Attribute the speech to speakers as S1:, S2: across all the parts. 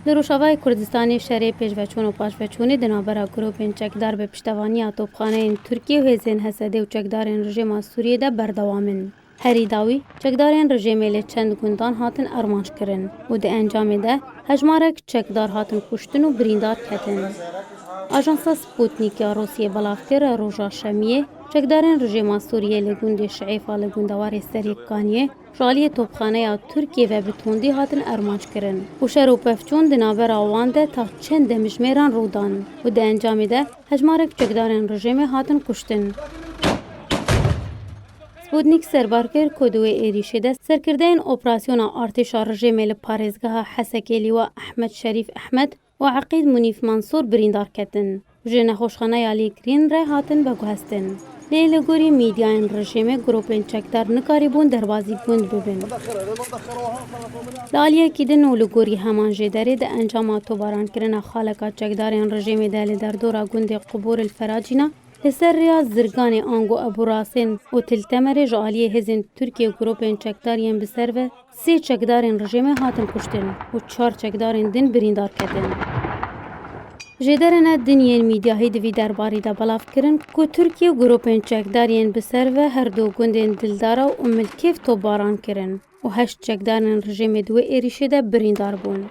S1: Li Rojavayê Kurdistanê şerê pêşveçûn û paşveçûnê di navbera grûpên çekdar bi piştevaniya topxaneyên Tirkiyê û hêzên Hesedê û çekdarên rejêma Sûriyê de berdewam in. Herî dawî çekdarên rejêmê li çend gundan hatin armanjkirin û di encamê de hejmarek çekdar hatin kuştin û birîndar ketin. Ajansa Sputnik ya Rûsyê belav kir, roja şemiyê, Çekdarên rejîma Sûriyê li gundê Şeîfa li gundewarê Serî Kaniyê ji aliyê topxaneya Tirkiyê ve bi tundî hatin armanckirin û şer û pevçûn di navbera wan de ta çend demijmêran rû dan û di encamê de hejmarek çekdarên rejîmê hatin kuştin. Sputnik serbar kir ku di wê êrîşê de serkirdeyên operasyona artêşa rejîmê li parêzgeha Hesekê Lîwa Ehmed Şerîf Ehmed û Eqîd Munîf Mansûr birîndar ketin û ji nexweşxaneya lêkirîn re hatin veguhestin. Lê li gorî mîdyayên rejîmê grûpên çekdar nikarîbûn derbazî gund bibin. Li aliyekî din û li gorî heman jê derê di encama tovarankirina xaleka çekdarên rejîmê de li derdora gundê Qubur El Feracîna li ser rêya Zirganê ango Ebû Rasên û Til Temerê ji aliyê hêzên Tirkiyê grûpên çekdar yên bi ser ve Sê çekdarên rejîmê hatin kuştin û çar çekdarên din birîndar ketin. Jêderê ne din yên mîdyahî di vî derbarî de belav kirin ku Tirkiye grûpên çekdar yên bi ser ve her du gundên Dildara û Milkêv topbaran kirin û heşt çekdarên rejîmê di wê êrîşê de birîndar bûn.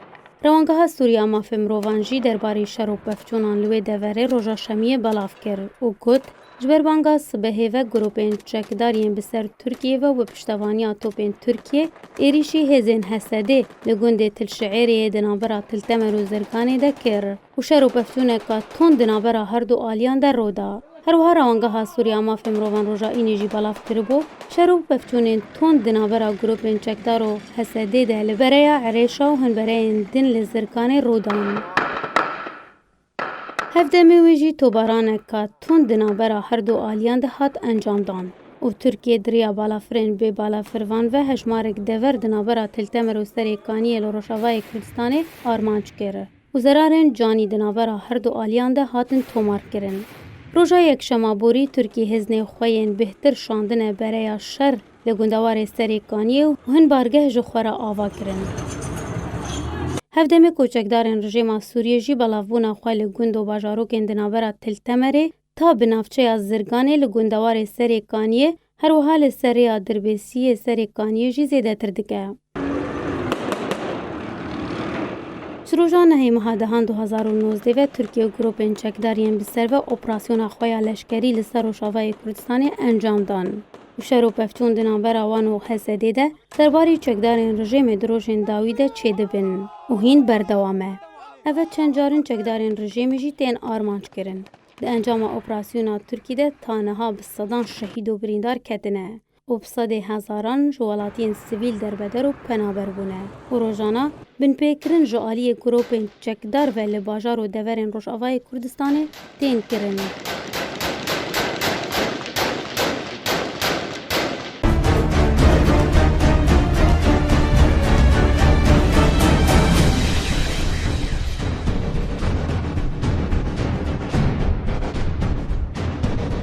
S1: Rewangeha Sûrî a Mafê Mirovan jî derbarî şer û pevçûnan li wê deverê roja şemiyê belav kir û got, Ji ber banga sibehê ve grûpên çekdar yên bi ser Tirkiyê ve û bi piştevaniya topên Tirkiyê êrîşî hêzên Hesedê li gundê Tilşiêrê yê di navbera Tiltemer û Zirganê de kir û şer û peftûneka tund di navbera her du aliyan de rû da. Her wiha Rawangeha Sûrî ya Mafên Mirovan roja înê jî belav kiribû şer û peftûnên tund di navbera grûpên çekdar û Hesedê de li bereya Irêşa û hin bereyên din li Zirganê rû dan. Hev demê wê jî tobaranek tund di navbera her du aliyan de hat encamdan û Tirkiye di riya balafirên bê balafirvan ve hejmarek dever di navbera Tiltemer û Serê Kaniyê li Rojavayê Kurdistanê armanc kir û zerarên canî di navbera her du aliyan de hatin tomarkirin. Roja Yekşema borî Tirkî hêznê xwe yên bêhtir şandine bereya şer. Li gundewarê Serê Kaniyê û hin bargeh ji xwe re ava kirin. Hev demê ku çekdarên rijêma Sûriyê jî belavbûna xwe li gund û bajarokên di navbera Til Temerê ta bi navçeya Zirganê li gundewarê Serê Kaniyê, her wiha li ser rêya Dirbêsiyê Serê Kaniyê jî zêdetir dike. Ji roja nehê meha dehan du hezar û nozdeh ve Tirkiye grûpên çekdar yên bi ser ve operasyona xwe ya leşkerî li ser Rojavayê Kurdistanê encam dan û şer û pevçûn di navbera wan û HSDê de serbarî çekdarên rijêmê di rojên dawî de çêdibin û hîn berdewam e. Ev e çend carin çekdarên rijêmê jî tên armanc kirin. Di encama operasyona Tirkî de ta niha bi sedan şehîd û birîndar ketine. û bi sedê hezaran ji welatiyên sivîl derbeder û penaber bûne û rojana binpêkirin ji aliyê gropên çekdar ve li bajar û deverên Rojavayê Kurdistanê tên kirin.